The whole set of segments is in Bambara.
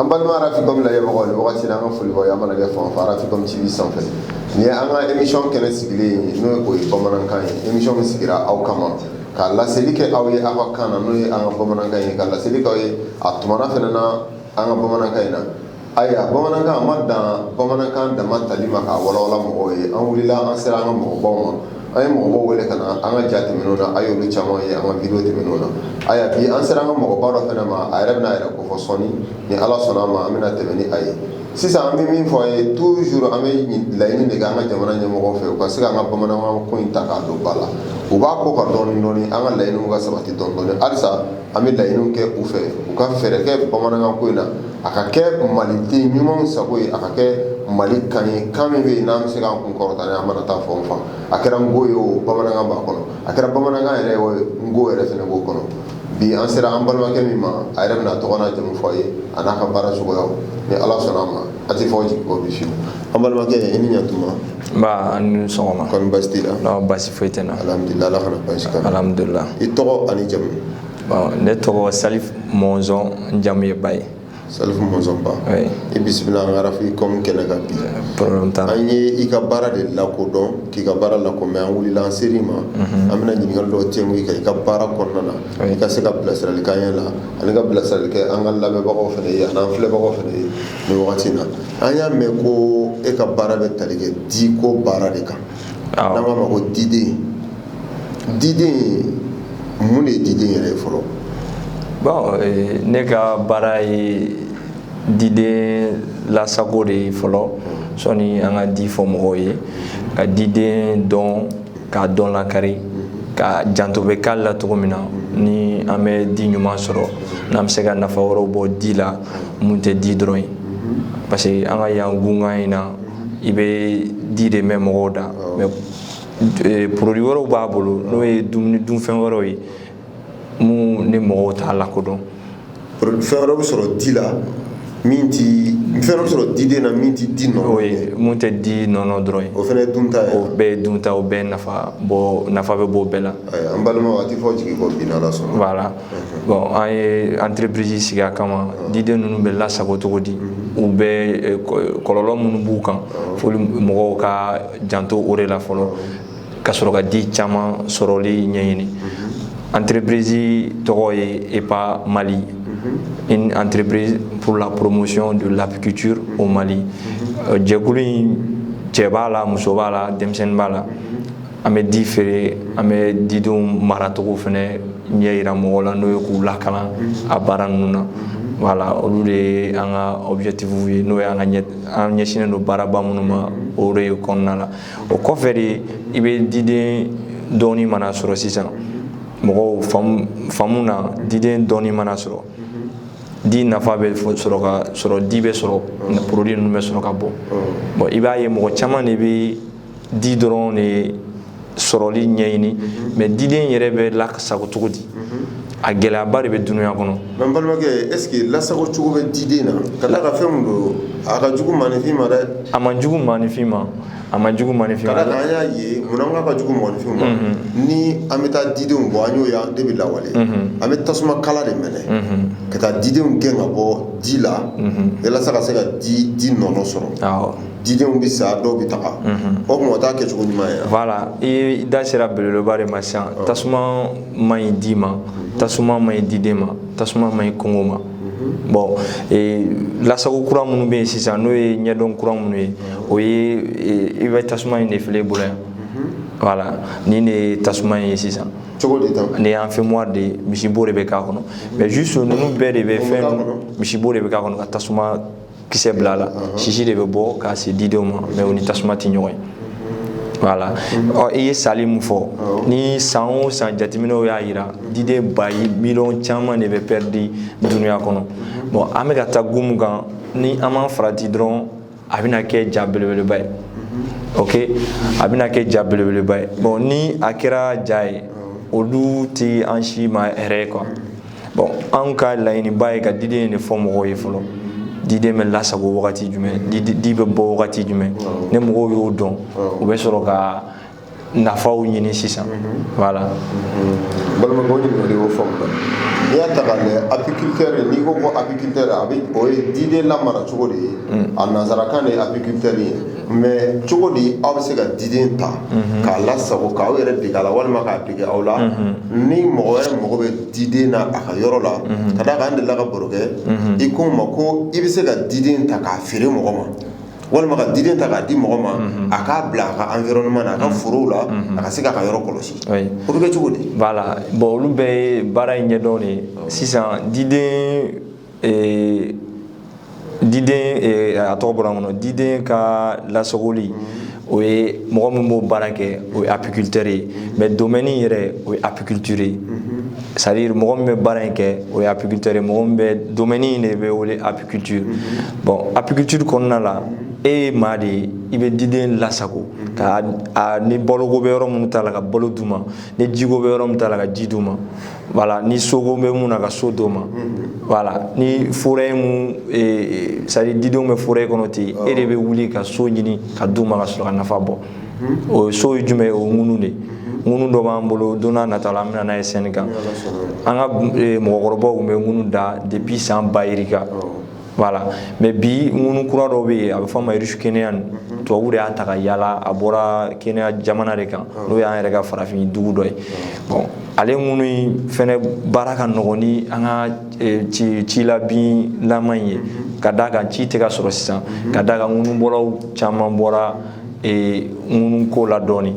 an balima arafikomi lajɛmɔgɔ ni wagati la an ka foli b'aw ye aw mana kɛ fan fɛ arafikomi tv sanfɛ nin ye an ka emisiyɔn kɛnɛ sigilen ye n'o ye o ye bamanankan ye emisiyɔn min sigira aw kama ka laseli kɛ aw ye an fakan na n'o ye an ka bamanankan ye ka laseli kɛ aw ye a tumana fana na an ka bamanankan in na Ayiwa bamanankan ma dan bamanankan dama tali ma ka walawala mɔgɔw ye an wulila an sera an ka mɔgɔbaw ma an ye mɔgɔbaw wele ka na an ka ja tɛmɛna a y'olu caman ye an ka video tɛmɛna a y bi an sera an ka mɔgɔbaw dɔ fana ma a yɛrɛ bɛna a yɛrɛ ko fɔ sɔɔni ni ala sɔnna a ma an bɛna tɛmɛ ni a ye sisan an bɛ min fɔ a ye to s an bɛ laɲini kɛ an ka jamana ɲɛmɔgɔw fɛ u ka se an ka bamanankan ko in ta k'a don ba la u b'a ko ka dɔn dɔɔnin an ka laɲini ka sabati dɔn halisa an bɛ laɲiniw kɛ u fɛ u ka fɛɛrɛ kɛ bamanankan ko in na a ka kɛ maliden ɲumanw sago ye a ka kɛ mali kan ye kan min bɛ yen n'an bɛ se k'an kun kɔrɔta n'a ye an mana taa fan o fan a kɛra nko ye o bamanankan b'a kɔnɔ a kɛra bamanankan yɛrɛ ye nko yɛrɛ fana b'o kɔnɔ bi an sera an balimakɛ min ma a yɛrɛ bɛn'a tɔgɔ n'a jamu fɔ a ye a n'a ka baara cogoya ni Ala sɔnn'a ma a tɛ fɔ jigin kɔ bi fiyewu an balimakɛ i ni ɲantuma nba an ni sɔgɔma kɔri basi t'i la non basi foyi tɛ n na alihamudulila ala kana basi kan alihamudulila i tɔgɔ an'i jamu bon ne tɔgɔ salif mɔnzɔn n jamu ye ba ye salifu mɔnzɔn ba oui i bisimila an ka arafikomi kɛnɛ kan bi problème t'a la an ye i ka baara de lakodɔn k'i ka baara lakomɛn an wulila an ser'i ma an bɛna ɲininkali dɔw tɛngu i kan i ka baara kɔnɔna na An ka se ka bilasirali k'an yɛrɛ la ani ka bilasirali kɛ an ka lamɛnbagaw fana ye an'an filɛbagaw fana ye ni wagati in na an y'a mɛn ko e ka baara bɛ tali kɛ di ko baara de kan an b'a mɛn ko diden diden mun de ye diden yɛrɛ ye fɔlɔ bon ne ka baara ye diden lasago de ye fɔlɔ sɔɔni an ka di fɔ mɔgɔw ye ka diden dɔn k'a dɔn lakarika janto bɛ k'a la cogo min na ni an bɛ di ɲuman sɔrɔ n'an bɛ se ka nafa wɛrɛw bɔ di la min tɛ di dɔrɔn ye parce que an ka yan gun kan in na i bɛ di de mɛn mɔgɔw da mais produits wɛrɛw b'a bolo n'o ye dumuni dunfɛn wɛrɛw ye minnu ni mɔgɔw t'a lakodɔn fɛn wɛrɛ bɛ sɔrɔ di la min tɛ fɛn wɛrɛ bɛ sɔrɔ diden na min tɛ di nɔnɔ o ye min tɛ di nɔnɔ dɔrɔn ye o fana ye dunta ye o bɛɛ ye dunta o bɛɛ nafa bɔ nafa bɛ bɔ o bɛɛ la an balima a tɛ fɔ jigin kɔ bin ala sɔrɔ voilà bon an ye entreprise sigi a kama diden ninnu bɛ lasago cogo di u bɛ kɔlɔlɔ minnu b'u kan fo mɔgɔw ka janto o de la fɔlɔ ka sɔrɔ ka di caman sɔrɔli ɲɛɲini entreprise tɔgɔ ye epa mali une entreprise pour la promotion de l'apiculture au mali jɛkulu in cɛ b'a la muso b'a la denmisɛnnin b'a la an bɛ di feere an bɛ didenw maracogo fana ɲɛ yira mɔgɔw la n'o ye k'u lakalan a baara ninnu na voilà olu de ye an ka objectif ye n'o ye an ka an ɲɛsinnen don baaraba minnu ma o de ye kɔnɔna la o kɔfɛ de i bɛ diden dɔɔni mana sɔrɔ sisan mɔgɔw faamu na diden dɔɔni mana sɔrɔ di nafa bɛ sɔrɔ ka sɔrɔ di bɛ sɔrɔ produit ninnu bɛ sɔrɔ ka bɔ bon i b'a ye mɔgɔ caman de bɛ di dɔrɔn de sɔrɔli ɲɛɲini mais diden yɛrɛ bɛ lasago cogo di A gɛlɛyaba de bɛ dunya kɔnɔ n balimakɛ est-ce que lasago cogo bɛ diden na ka d'a kan fɛn min don a ka jugu mɔgɔninfin ma dɛ a man jugu mɔgɔninfin ma a man jugu mɔgɔninfin voilà an y'a ye munna a ka jugu mɔgɔninfin ma ni an bɛ taa didenw bɔ n'o ye an de bɛ lawale an bɛ tasuma kala de mɛnɛ ka taa didenw gɛn ka bɔ di la walasa ka se ka di di nɔnɔ sɔrɔ didenw bɛ sa dɔw bɛ taga o mɔgɔ t'a kɛ cogo ɲuman ye la i da sera belebeleba de ma sisan tasuma man ɲi di ma tasuma man ɲi diden ma tasuma man ɲi kungo ma bon e, lasago kura minnu bɛ yen sisan n'o ye ɲɛdɔn kura minnu ye o ye e, i bɛ tasuma in de filɛ bolo yan voilà nin de ye tasuma in ye sisan cogo di tan nin ye enfumoir de ye misibo de bɛ k'a kɔnɔ mais juste ninnu bɛɛ de bɛ fɛn misibo de bɛ k'a kɔnɔ ka tasuma kisɛ bila la sisi de bɛ bɔ k'a se didenw ma mais u ni tasuma tɛ ɲɔgɔn ye voilà ɔ i ye sali min fɔ ni san o san jateminɛw y'a jira diden bayi miliyɔn caman de bɛ perdu dunuya kɔnɔ bon an bɛ ka taa kun min kan ni an m'an farati dɔrɔn a bɛna kɛ ja belebeleba ye ok a bɛna kɛ ja belebeleba ye bon ni a kɛra ja ye olu tɛ an si ma hɛrɛ ye quoi bon anw ka laɲiniba ye ka diden de fɔ mɔgɔw ye fɔlɔ diden bɛ lasago wagati jumɛn di bɛ bɔ wagati jumɛn ni mɔgɔw y'o dɔn u bɛ sɔrɔ ka nafaw ɲini sisan voilà mhm. balimakaw ɲininkali y'o faamu la n'i y'a ta k'a lajɛ apiculture n'i ko ko apiculture a bɛ o ye diden lamara cogo de ye mm. a nanzarakan de ye apiculture ye mais cogo di aw bɛ se ka diden ta k'a lasago k' aw yɛrɛ dege la walima k'a dege aw la ni mɔgɔ wɛrɛ mɔgɔ bɛ diden na a ka yɔrɔ la ka d'a kan n delila ka baro kɛ i ko ma ko i bɛ se ka diden ta k'a feere mɔgɔ ma walima ka diden ta k'a di mɔgɔ ma a k'a bila a ka environnement na a ka foro la a ka se k'a ka yɔrɔ kɔlɔsi o bɛ kɛ cogo di voilà bon olu bɛ baara in ɲɛdɔn de sisan diden ee diden ee, a tɔgɔ bɔra n kɔnɔ diden ka lasagoli mm-hmm. o ye mɔgɔ min b'o baara kɛ o ye apiculteur ye mm-hmm. mais domaine yɛrɛ o ye apiculture ye mm-hmm. c'est à dire mɔgɔ min bɛ baara in kɛ o ye apiculteur ye mɔgɔ min bɛ domaine in de bɛ wele apiculture bon apiculture kɔnɔna la e ye maa de ye i bɛ diden lasago ka a ni baloko bɛ yɔrɔ min ta la ka balo d'u ma ni jiko bɛ yɔrɔ min ta la ka ji d'u ma voilà ni soko bɛ mun na ka so d'o ma mhm. voilà ni forêt mun eh, c'est à dire didenw bɛ forêt kɔnɔ ten e de bɛ wuli ka so ɲini ka d'u ma ka sɔrɔ ka nafa bɔ mhm. o so ye jumɛn ye o ŋunu de ŋunu mhm. dɔ b'an bolo don n'a nata la an bɛna n'a ye sɛni kan an ka eh, mɔgɔkɔrɔbaw tun bɛ ŋunu da depuis san bayirika voilà mais bi ŋunu kura dɔ bɛ yen a bɛ fɔ a ma ruche kenyane mhm. tubabu de y'a ta ka yaala a bɔra Kenya jamana de kan ah. n'o y'an yɛrɛ ka farafin dugu dɔ ye ah. bon ale ŋunu in fɛnɛ baara ka nɔgɔn ni an ka eh, ci cila binlama in ye mhm. ka d'a kan ci tɛ ka sɔrɔ sisan mhm. ka d'a kan ŋunubɔlaw caman bɔra eh, ŋunu ko la dɔɔni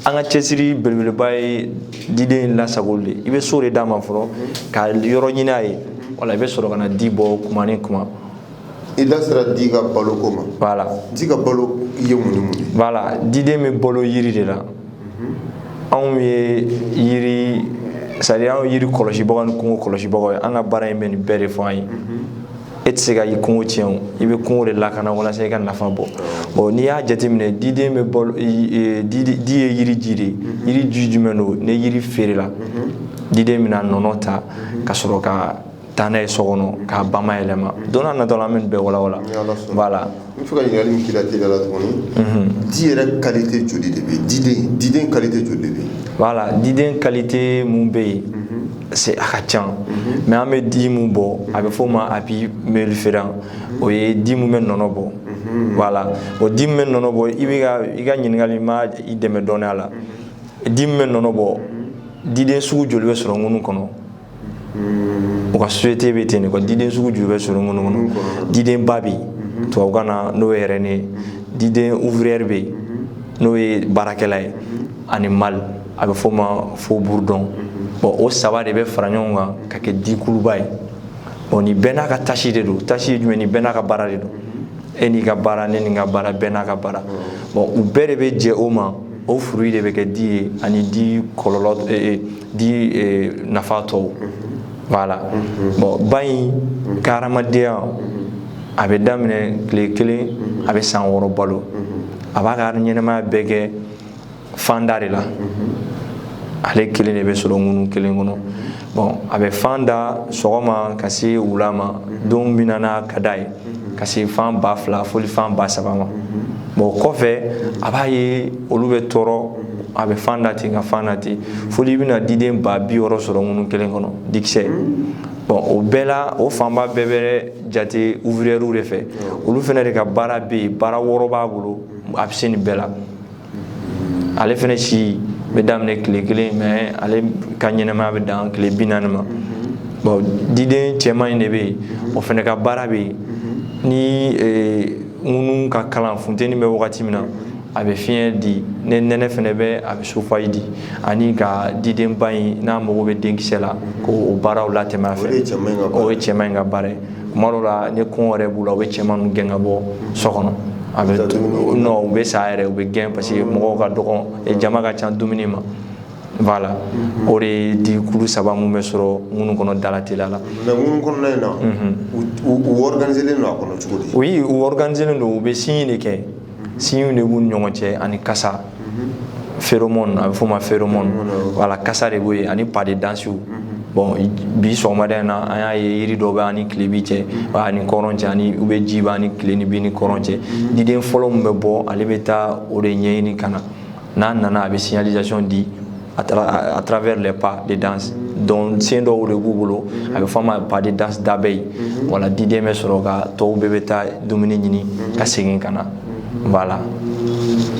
an ka cɛsiri belebeleba ye diden lasagoli de i bɛ so de d'a ma fɔlɔ ka yɔrɔ ɲini a ye voilà i bɛ sɔrɔ ka na di bɔ kuma ni kuma i da sera di ka balo ko ma voilà di ka balo ye mun ni mun ye voilà diden bɛ balo yiri de la anw ye yiri c'est à dire anw yiri kɔlɔsibagaw ni kungo kɔlɔsibagaw ye an ka baara in bɛ nin bɛɛ de fɔ an ye e tɛ se ka i kungo tiɲɛ o i bɛ kungo de lakana walasa i ka nafa bɔ bon n'i y'a jateminɛ diden bɛ balo di ye yiri ji de ye mhm. yiri ji jumɛn don ni yiri feerela mhm. diden bɛna nɔnɔ ta mhm. ka sɔrɔ ka taa n'a ye so kɔnɔ k'a bayɛlɛma don n'a natɔ la an bɛ nin bɛɛ walawala voilà N fo ka ɲininkali min k'i la teliya la tuguni, unhun, di yɛrɛ qualité joli de bɛ yen, diden diden qualité joli de bɛ yen? Voilà diden qualité mun bɛ yen, c'est a ka ca, mais an bɛ di mun bɔ, a bɛ f'o ma apis mellifera o ye di mun bɛ nɔnɔ bɔ, voilà o di min bɛ nɔnɔ bɔ i bɛ ka i ka ɲininkali ma i dɛmɛ dɔɔnin a la, di min bɛ nɔnɔ bɔ, diden sugu joli bɛ sɔrɔ ŋunu kɔnɔ? u ka société bɛ ten nin ka diden sugu joli bɛ sɔrɔ ŋunu kɔnɔ diden ba bɛ tubabukan na n'o ye reine diden ouvrière bɛ yen n'o ye baarakɛla ye ani mâle a bɛ fɔ o ma faux bourdon bon o saba de bɛ fara ɲɔgɔn kan ka kɛ dikuluba ye ɔ ni bɛɛ n'a ka tâche de don tâche ye jumɛn ni bɛɛ n'a ka baara de don e n'i ka baara ne ni n ka baara bɛɛ n'a ka baara bon u bɛɛ de bɛ jɛ o ma o fruit de bɛ kɛ di ye ani di kɔlɔn di eh, nafa tɔw voilà bon ba in ka hadamadenya a bɛ daminɛ tile kelen a bɛ san wɔɔrɔ balo a b'a ka ɲɛnamaya bɛɛ kɛ fanda de la ale kelen de bɛ sɔrɔ ŋunu kelen kɔnɔ bon a bɛ fan da sɔgɔma ka se wula ma don min na n'a ka d'a ye ka se fan ba fila foli fan ba saba ma bon o kɔfɛ a b'a ye olu bɛ tɔrɔ a bɛ fan da ten ka fan da ten foli bɛna diden ba bi wɔɔrɔ sɔrɔ ŋunu kelen kɔnɔ dikisɛ bɔn o bɛɛ la o fanba bɛɛ bɛ jate uvriyɛriw de fɛ olu fana de ka baara bɛ yen baara wɔɔrɔ b'a bolo a bɛ se nin bɛɛ la ale fana si bɛ daminɛ tile kelen mais ale ka ɲɛnamaya bɛ dan tile bi naani ma bon diden cɛman in de bɛ yen o fana ka baara bɛ yen ni ŋunu ka kalan funteni bɛ wagati min na a bɛ fiɲɛ di ni nɛnɛ fana bɛ a bɛ chauffage di ani ka didenba in n'a mago bɛ denkisɛ la k'o baaraw latɛmɛ a fɛ o ye cɛman in ka baara ye tuma dɔ la ni kɔngɔ yɛrɛ b'u la u bɛ cɛmanw gɛn ka bɔ so kɔnɔ bon u bɛ sa yɛrɛ u bɛ gɛn parce que mɔgɔw ka dɔgɔn jama ka ca dumuni ma voilà mhm. o de di kulu saba minnu bɛ sɔrɔ ŋunu kɔnɔ dalateliya la mais ŋunu kɔnɔna in na u organiselen don a kɔnɔ cogo di oui u organiselen don u bɛ signe de kɛ signew de b'u ni ɲɔgɔn cɛ ani kasa feromɔn a bɛ f'o ma feromɔn wala kasa de b'o ye ani pas de dansew bɔn bi sɔgɔmada in na an y'a ye yiri dɔw bɛ an ni tilebin cɛ an ni kɔrɔn cɛ ani u bɛ ji b'a ni tilebin ni kɔrɔn cɛ diden fɔlɔ min bɛ bɔ ale bɛ taa o de ɲɛɲini ka na n'a nana a bɛ signalisation di à travers les pas de danse donc sendɔnw de b'u bolo a bɛ fɔ a ma pas de danse d'abeille wala diden bɛ sɔrɔ ka tɔw bɛɛ bɛ taa dumuni ɲini ka segin ka na voilà.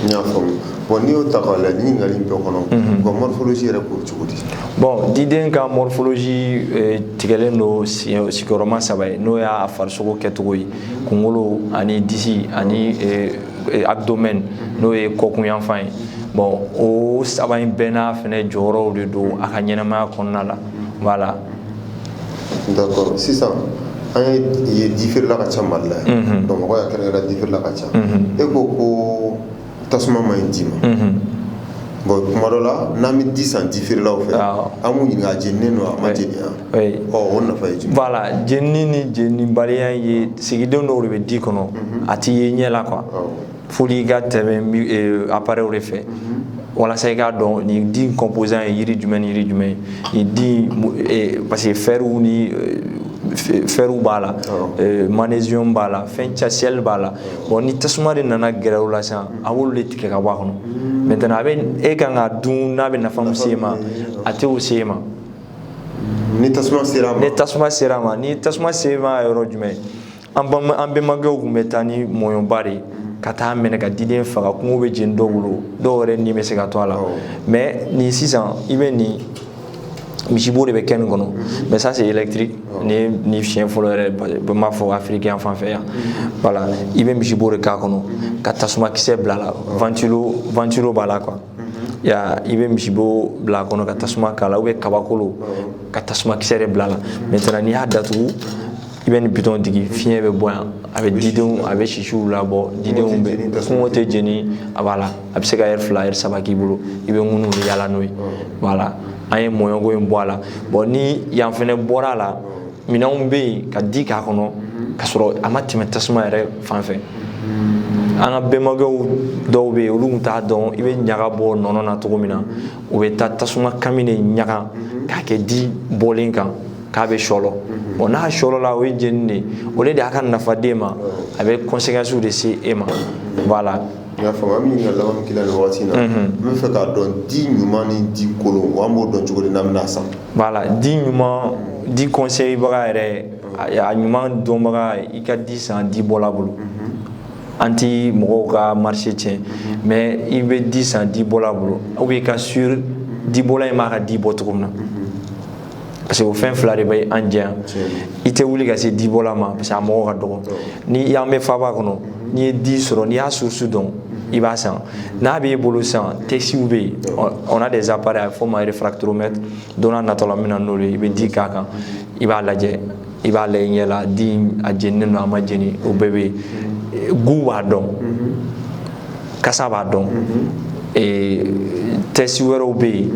n y'a faamu bɔn n'i y'o ta k'a lajɛ ɲininkali in bɛɛ kɔnɔ u ka morphologie yɛrɛ k'o cogo di. bɔn diden ka morphologie eh, tigɛlen don sigiyɔrɔma saba ye n'o y'a farisogo kɛcogo ye kunkolo ani disi ani. Eh, eh, abdomen n'o ye kɔkunyanfan ye bon o saba in bɛɛ n'a fɛnɛ jɔyɔrɔw de don a ka ɲɛnamaya kɔnɔna la voilà d'accord sisan an y'a ye difeerela ka ca mali la yan bamakɔ yan kɛrɛnkɛrɛn difeerela ka ca e ko ko tasuma man ɲi di ma bon kuma dɔ la n'an bɛ di san difeerelaw fɛ an b'u ɲininka a jeninen don a ma jeni wa la jeni ni jenibaliya ye sigidenw dɔw de bɛ di kɔnɔ a tɛ ye ɲɛ la quoi fo i ka tɛmɛ appareilw de fɛ walasa i k'a dɔn nin di composant ye yiri jumɛn jiri jumɛn ye parce que fɛrw ni fɛrw b'a la manz b'a la fɛn ca seli b'a la ɔ ni tasuma de nana gɛrɛ u la sisan a b'olu de tiɲɛ ka bɔ a kɔnɔ mais a bɛ e ka kan k'a dun n'a bɛ nafa min se i ma a t'o se i ma ni tasuma sera ma ni tasuma sera ma ni tasuma sera yɔrɔ jumɛn an bama an bɛnbakɛw tun bɛ taa ni mɔɲɔba de ye ka taa a mɛnɛ ka diden faga kungo bɛ jeni dɔw bolo dɔw yɛrɛ ni bɛ se ka to a la mɛ nin sisan i bɛ nin misibo de bɛ kɛ nin kɔnɔ mɛ ça c'est électrique ni ni fiɲɛ fɔlɔ yɛrɛ bɛ m'a fɔ afiriki yan fan fɛ yan voilà i bɛ misibo de k'a kɔnɔ ka tasuma kisɛ bila a la ventilo ventilo b'a la quoi i bɛ misibo bila a kɔnɔ ka tasuma k'a la ou bien kabakolo ka tasuma kisɛ de bila a la maintenant n'i y'a datugu i bɛ nin butɔn digi fiɲɛ bɛ bɔ yan a bɛ didenw a bɛ sisiw labɔ didenw kungo tɛ jeni a b'a la a bɛ se ka lɛrɛ fila lɛrɛ saba k'i bolo i bɛ ŋunu bɛɛ yaala n'o ye la an ye mɔɲɔko in bɔ a la bon ni yan fana bɔra a la minɛnw bɛ yen ka di k'a kɔnɔ ka sɔrɔ a ma tɛmɛ tasuma yɛrɛ fan fɛ an ka bɛnbakɛw dɔw bɛ yen olu tun t'a dɔn i bɛ ɲaga bɔ nɔnɔ na cogo min na u bɛ taa tasuma kami de ɲaga k'a kɛ di bɔlen kan k'a bɛ sɔlɔ bon n'a sɔlɔla o ye jeni de ye o tɛ a ka nafa d'e ma a bɛ kɔnsekansiw de se e ma voilà N y'a faamu an bɛ ɲininkali laban min k'i la nin waati in na, unhun, n bɛ fɛ k'a dɔn di ɲuman ni di kolon an b'o dɔn cogo di n'an bɛna a san voilà di ɲuman di conseil baga yɛrɛ a ɲuman dɔnbaga i ka di san di bɔla bolo an ti mɔgɔw ka marché tiɲɛ mais i bɛ di san di bɔla bolo ou bien i ka sûr di bɔla in b'a ka di bɔ cogo min na parce que o fɛn fila de b'a jɛya i tɛ wuli ka se dibɔla ma parce que a mɔgɔ ka dɔgɔ ni an bɛ faaba kɔnɔ n'i ye di sɔrɔ n'i y'a source dɔn i b'a san n'a b'i bolo san tɛsiw bɛ yen on a des appareils a bɛ fɔ o ma réfractomètre don nataw la n bɛna n'olu ye i bɛ di k'a kan i b'a lajɛ i b'a lajɛ yala di a jeninen don a ma jeni o bɛɛ bɛ goût b'a dɔn kasa b'a dɔn tɛsi wɛrɛw bɛ yen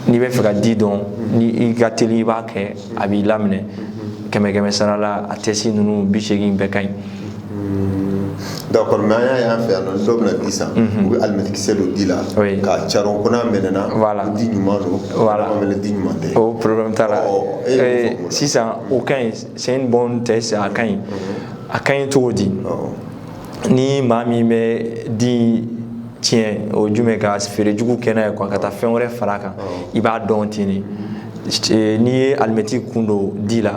n'i bɛ fɛ ka di dɔn ni i ka teli i b'a kɛ a b'i laminɛ kɛmɛ kɛmɛ sarala a tɛsi ninnu bi seegin bɛɛ ka ɲi d'accord mais an y'a ye an fɛ yan nɔ dɔw bɛna di san u bɛ alimɛtikisɛ don di la k'a caron ko n'a mɛnɛna ko di ɲuman don walima ko di ɲuman tɛ o problème t'a la sisan o ka ɲi c'est un bon test a ka ɲi a ka ɲi cogo di ni maa min bɛ di tiɲɛ o jumɛn ka feere jugu kɛ a na ye ka taa fɛn wɛrɛ fara a kan i b'a dɔn ten de Eh, n'i ye alimɛti kun don di la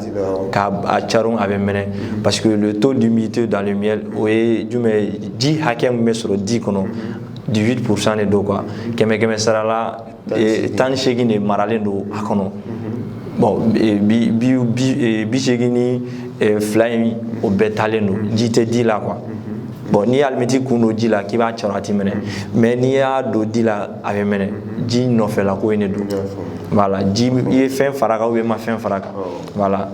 k'a caron a bɛ mɛnɛ parce que le taux d'humidité dans le miel o ye jumɛn ye ji hakɛ min bɛ sɔrɔ di kɔnɔ 18 pourcent de don quoi kɛmɛ kɛmɛ sara la tan ni segin de maralen don a kɔnɔ bɔn bi segin ni fila in o bɛɛ talen don ji tɛ di la quoi bɔn n'i y'alimɛti kun don ji la k'i b'a caron a tɛ mɛnɛ mais n'i y'a don di la a bɛ mɛnɛ ji nɔfɛla ko ye ne don voilà i ye fɛn fara a kan wo i ma fɛn fara a kan voilà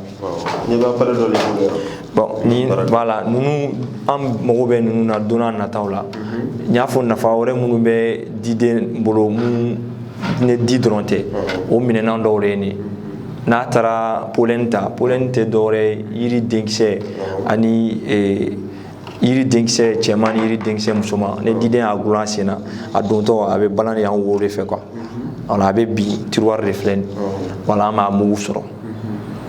n'i b'appareil dɔ de bolo yan bon ni voilà ninnu an mago bɛ ninnu na don na nataw la n y'a fɔ nafa wɛrɛ minnu bɛ diden bolo minnu ni di dɔrɔn tɛ o minɛnan dɔw de ye nin n'a taara polɛni ta polɛni tɛ dɔwɛrɛ ye yiri denkisɛ ani yiri denkisɛ cɛman ni yiri denkisɛ musoman ni diden y'a dulon a sen na a dontɔ a bɛ balan de yan wo de fɛ quoi voilà a bɛ bin tiruwari de filɛ nin voilà an b'a mugu sɔrɔ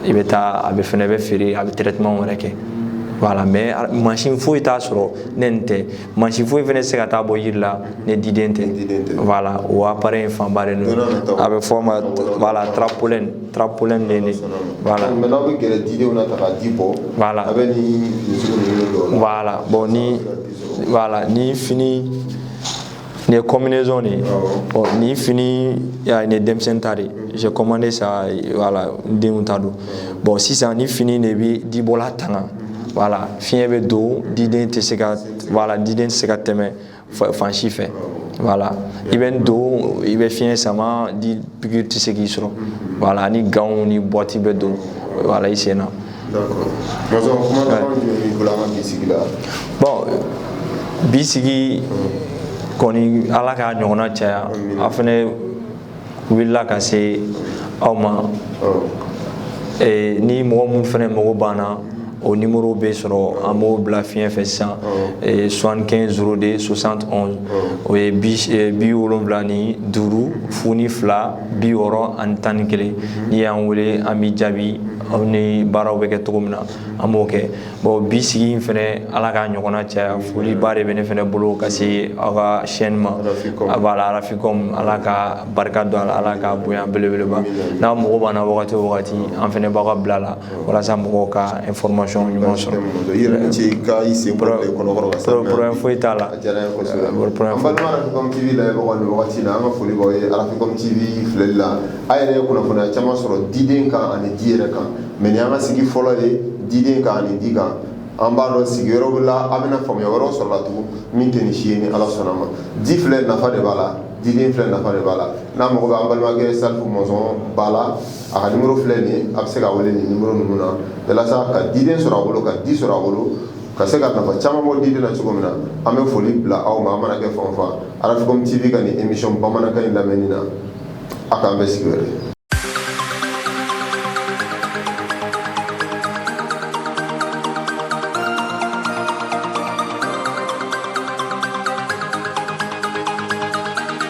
i bɛ taa a bɛ fɛnɛ bɛ feere a bɛ traitement wɛrɛ kɛ voilà mais mansin foyi t'a sɔrɔ ni nin tɛ mansin foyi fɛnɛ tɛ se ka taa a bɔ yiri la ni diden tɛ voilà o appareil in fanba de don a bɛ fɔ a ma voilà trapolɛni Trapolen de don voilà mais n'aw bɛ gɛrɛ didenw na ta ka di bɔ voilà aw bɛ nin finiw ninnu don aw la voilà bon ni voilà nin fini nin ye combinaison de ye bon nin fini ya nin ye denmisɛnnin ta de ye j'ai commandé ça voilà n denw ta don bon sisan nin fini de bɛ dibɔla tanga voilà fiɲɛ bɛ don diden tɛ se ka voilà diden tɛ se ka tɛmɛ fan si fɛ voilà i bɛ nin don i bɛ fiɲɛ sama di pikiri tɛ se k'i sɔrɔ voilà ani ganw ni bɔti bɛ don voilà i sen na bɔn bi sigi kɔni ala k'a ɲɔgɔnna caya an fana wulila ka se aw ma ni mɔgɔ minnu fana mago b'an na o nimɔrɔ bɛ sɔrɔ an b'o bila fiɲɛ fɛ sisan 75 02 60 11 o ye bi wolowula ni duuru fu ni fila bi wɔɔrɔ ani tan ni kelen n'i y'an wele an b'i jaabi ani baaraw bɛ kɛ cogo min na an b'o kɛ bon bi sigi in fana ala k'a ɲɔgɔnna caya foliba de bɛ ne fana bolo ka se aw ka chaîne ma a b'a la arafin ala ka barika don a la ala k'a bonya belebeleba n'aw mago b'an na wagati o wagati an fana b'aw ka bila la walasa mɔgɔw ka information ɲuman sɔrɔ problème foyi t'a la voilà an yɛrɛ ye kunnafoni caman sɔrɔ diden kan ani di yɛrɛ kan mɛ an ka sigi fɔlɔ ye diden kan ani di kan an b'a dɔn sigi wɛrɛ la an bɛna faamuya wɛrɛ sɔrɔ tugun min tɛ nin si ye ni ala sɔnna ma di filɛ nafa de b'a la diden filɛ nafa de b'a la n'a mago bɛ an balimakɛ sa mɔnzɔn ba la a ka nimuru filɛ nin a bɛ se ka wele nin nimuru ninnu na walasa ka diden sɔrɔ a bolo ka di sɔrɔ a bolo ka se ka nafa caman bɔ diden na cogo min na an bɛ foli bila aw ma an mana kɛ fan fan arafin tɛ ka nin emisiyɔn bamanankan in lamɛnni na A k'an bɛn sigi wɛrɛ